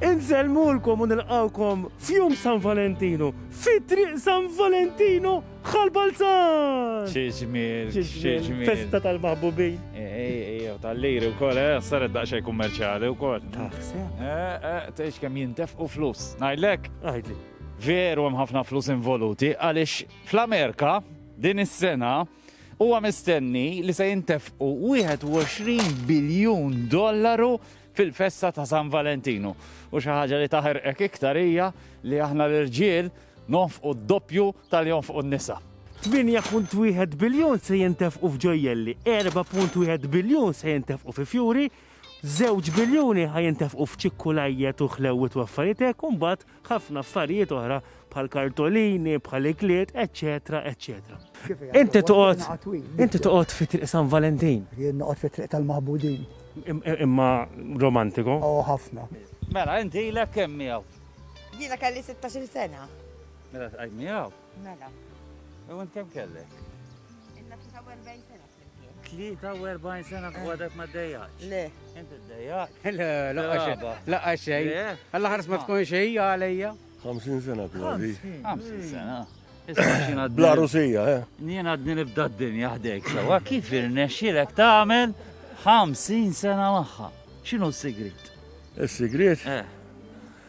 Insellmulkom u nilqgħukom f'jum San Valentinu, fi triq San Valentinu bħal Balzan! Xi ġmiel, xi ġmiel. Festa tal-maħbubin. Ejjew tal-liri wkoll, eh, saret daqsxejn kummerċjali wkoll. Taħseb? Eh, eh, tgħix kemm jintefqu flus. Ngħidlek? Għidli. Veru hemm ħafna flus involuti għaliex fl-Amerika din is-sena Huwa mistenni li se jintefqu 21 biljun dollaru fil-festa ta' San Valentinu. U xi ħaġa li taħerqek iktar hija li aħna l-irġiel nonfqu d-doppju tal jonfqu n-nisa. 8.1 biljun se jintefqu f'ġojjelli, 4.1 biljun se jintefqu fi fjuri, żewġ biljuni ħa jintefqu f'ċikkulajjet u ħlewwiet u affarijiet hekk u mbagħad ħafna affarijiet oħra bħal kartolini, bħal ikliet, eccetera, eccetera. Inti toqgħod inti toqgħod fi triq San Valentin. Jien noqgħod fi triq tal-maħbudin. Imma romantiko? Oh, ħafna. Mela, inti ilek kemm miegħu? Jiena kelli 16 sena. Mela tqajt miegħu? Mela. U int kemm kellek? Inna 43 sena. 43 sena fuq għadek ma d-dejjaqx. Le. Inti d-dejjaq? Le, laqqa xej. Alla ħars ma tkun xej għalija. 50 sena kważi. 50 sena. Bla rusija, eh? Nien għadni nibda d-dinja ħdejk sewa, kif irnexxilek tagħmel 50 sena magħha? X'inhu s-sigrit? Is-sigrit? Eh.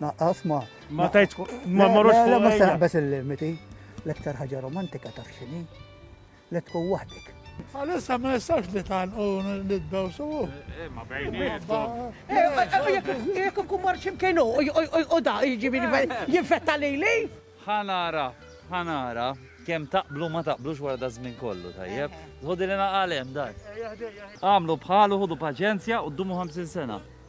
Naqqaf ma. Ma tajt ma marrux fuq. Ma saħbes il-limiti. L-iktar ħaġa romantika taf xini. Li tkun waħdek. Għalissa ma jistax li tal u li d-daw su. Eh, eh, ma bejnietom. Eh, jek kun mar ximkien u da jġibini jinfetta li li. Ħanara, ħanara, kem taqblu ma taqblux wara da żmien kollu, tajjeb. Zħodi li naqalem, daj. Għamlu bħalu, ħudu paċenzja u d-dumu 50 sena.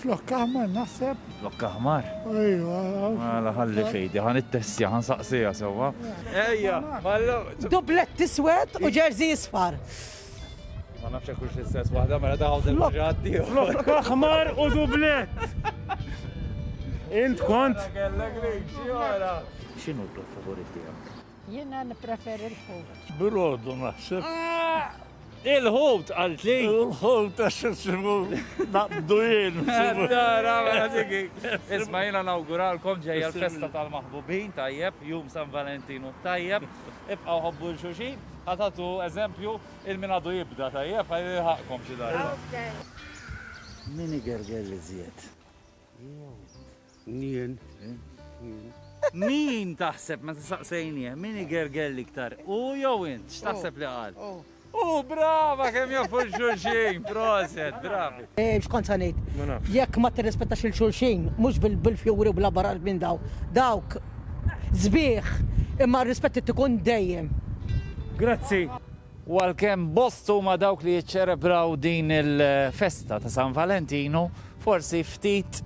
Flok aħmar naħseb. Flok aħmar? Ejwa. Mela ħalli fejdi, ħan it-tessja, ħan saqsija sewwa. Ejja, mallu. Dublet tiswed u ġerzi jisfar. Ma nafx hekk hux l-istess waħda, mela daħawt il-ġaddi. Flok aħmar u dublet. Int kont. X'inhu d-dub favorit tiegħek? Jiena nippreferi l-ħut. Brodu naħseb. Ah! Il-ħut għaltli? Il-ħut għax nsibu naqbdu jien. Isma jina nawguralkom ġejja l-festa tal-maħbubin tajjeb, jum San Valentinu tajjeb, ibqaw ħobbu l-xuxin, għatatu eżempju il-minadu jibda tajjeb, għajli ħakkom xidar. Mini gerger li zjed. Nien. Min taħseb meta saqsejnieh min igerger l-iktar, hu jew int? X'taħseb li qal? Hu, brava kemm jafu l-xulxin, proset, bravi. X'kont se ngħid? Ma nafx. Jekk ma tirrispettax lil xulxin, mhux bil-fjuri u bl-abbarar minn dawn, dawk sbieħ, imma r-rispett irid ikun dejjem. Grazzi. U għalkemm bost huma dawk li jiċċelebraw din il-festa ta' San Valentinu, forsi ftit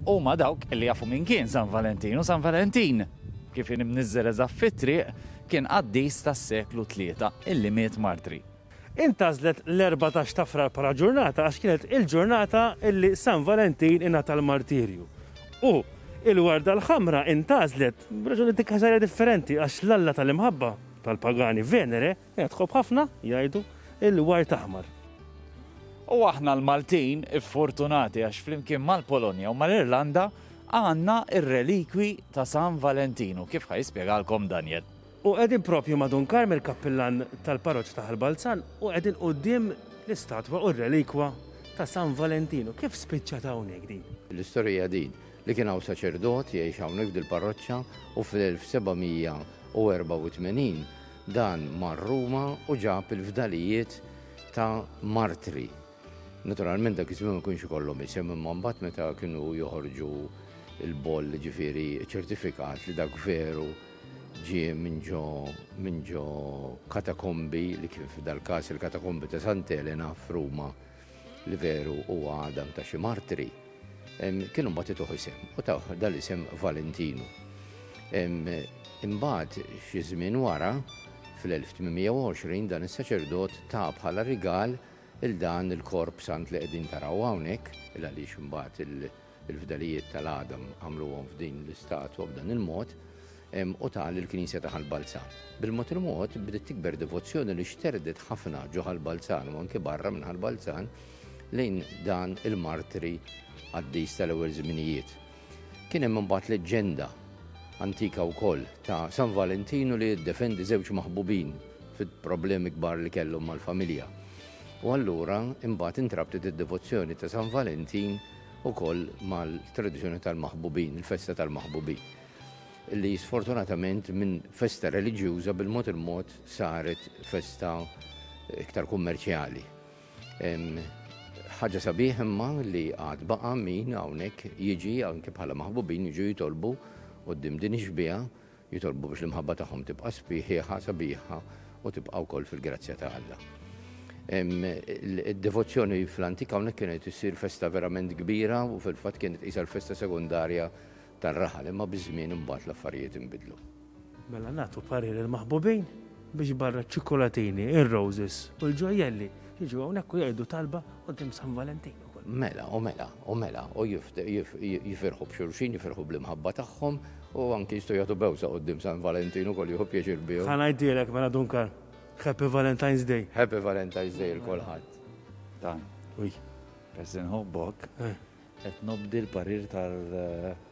huma dawk li jafu min kien San Valentinu. San Valentin, kif kien imniżżel eżatt fit-triq, kien qaddis tas-seklu tlieta illi miet martri. Intgħażlet l-erbatax ta' Frar bħala ġurnata għax kienet il-ġurnata illi San Valentin ingħata l-martirju. U il-warda l-ħamra intgħażlet b'raġuni dikkażarja differenti għax l-Alla tal-imħabba, Tal-pagani Venere hija tħobb ħafna, jgħidu, il-ward aħmar. U aħna l-Maltin iffortunati għax flimkien mal-Polonja u mal-Irlanda għandna r-relikwi ta' San Valentinu, kif ħa jispjegalkom Daniel. U qegħdin propju ma' Dun Karm il-kappillan tal-parroċċa ta' Ħal Balzan u qegħdin quddiem l-istatwa u r-relikwa ta' San Valentinu. Kif spiċċat hawnhekk din? L-istorja hija din, li kien hawn saċerdot jgħix hawnhekk f'dil-parroċċa u fl-1784 dan mar Ruma u ġab il-fdalijiet ta' martri. Naturalment dak iż-żmien ma kienx ikollhom isem imma mbagħad meta kienu joħorġu l-boll ġifieri ċertifikat li dak veru ġie minn ġo minn ġo katakombi li kien f'dal-każ il-katakombi ta' Sant'Elena f'Ruma. li veru huwa għadam ta' xi martri, kienu mbagħad ituh isem u taw dal-isem Valentinu. Imbagħad xi żmien wara fl-1820 dan is-saċerdot ta' bħala rigal il dan il-korp sant li qegħdin taraw hawnhekk il għaliex imbagħad il Il-fdalijiet tal-għadam għamluhom f'din l-istatwa b'dan il-mod, u ta lill-Knisja ta' Ħal Balzan. Bil-mod il-mod bdiet tikber devozzjoni li xterdet ħafna ġo Ħal Balzan u anke barra minn Ħal Balzan lejn dan il-martri qaddis tal-ewwel żminijiet. Kien hemm imbagħad leġġenda antika wkoll ta' San Valentinu li jiddefendi żewġ maħbubin fil-problemi kbar li kellhom mal-familja. U allura imbagħad intrabtet id-devozzjoni ta' San Valentin ukoll mal-tradizzjoni tal-maħbubin, il-festa tal-maħbubin, li sfortunatament minn festa reliġjuża bil-mod il-mod saret festa iktar kummerċjali. Ħaġa sabiħ imma li għad baqa' min hawnhekk jiġi anke bħala maħbubin jiġu jitolbu qudiem din ix-xbieha Jitolbu biex l-imħabba tagħhom tibqa' sbiħieħa, sabiħa u tibqa' wkoll fil-grazzja ta' Alla. Id-devozzjoni fl-antika hawnhekk kienet issir festa verament kbira u fil-fatt kienet qisha l-festa sekondarja tar-raħal, imma biż-żmien imbagħad l-affarijiet inbidlu. Mela nagħtu parir il-maħbubin biex barra ċ-ċikkulatini, ir-roses u l-ġojjelli jiġu hawnhekk u jgħidu talba quddiem San Valentinu. Mela, u mela, u mela, u jifirħu b'xulxin, jifirħu bl-imħabba tagħhom, u anki jistgħu jagħtu bewża quddiem San Valentin ukoll jieħu pjaċir bihom. Ħa ngħidilek mela Duncan, Happy Valentine's Day! Happy Valentine's Day 'l kulħadd! Dan. Ui. Peress li nħobbok, qed nobdi l-parir tal.